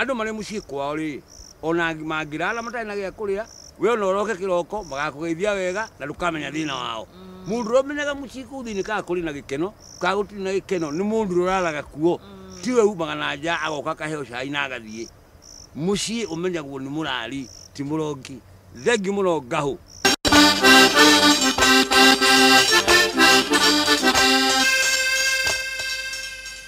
Andũ marĩ mũciĩ kwao-rĩ, o na mangĩraara matarĩ na gĩa kũrĩa, wee o na ũroke kĩroko, magakũgeithia wega na ndũkamenya thĩna wao. Mũndũ ũrĩa ũmenyaga mũciĩ kũu thĩinĩ kana kũrĩ na gĩkeno kana gũtirĩ na gĩkeno nĩ mũndũ ũrĩa ũraaraga kuo, ti ũrĩa umaga na nja agoka akaheo cai na agathiĩ. Mũciĩ ũmenyagwo nĩ mũrari, ti mũrongi. Thengiũ mũno Ngahũ.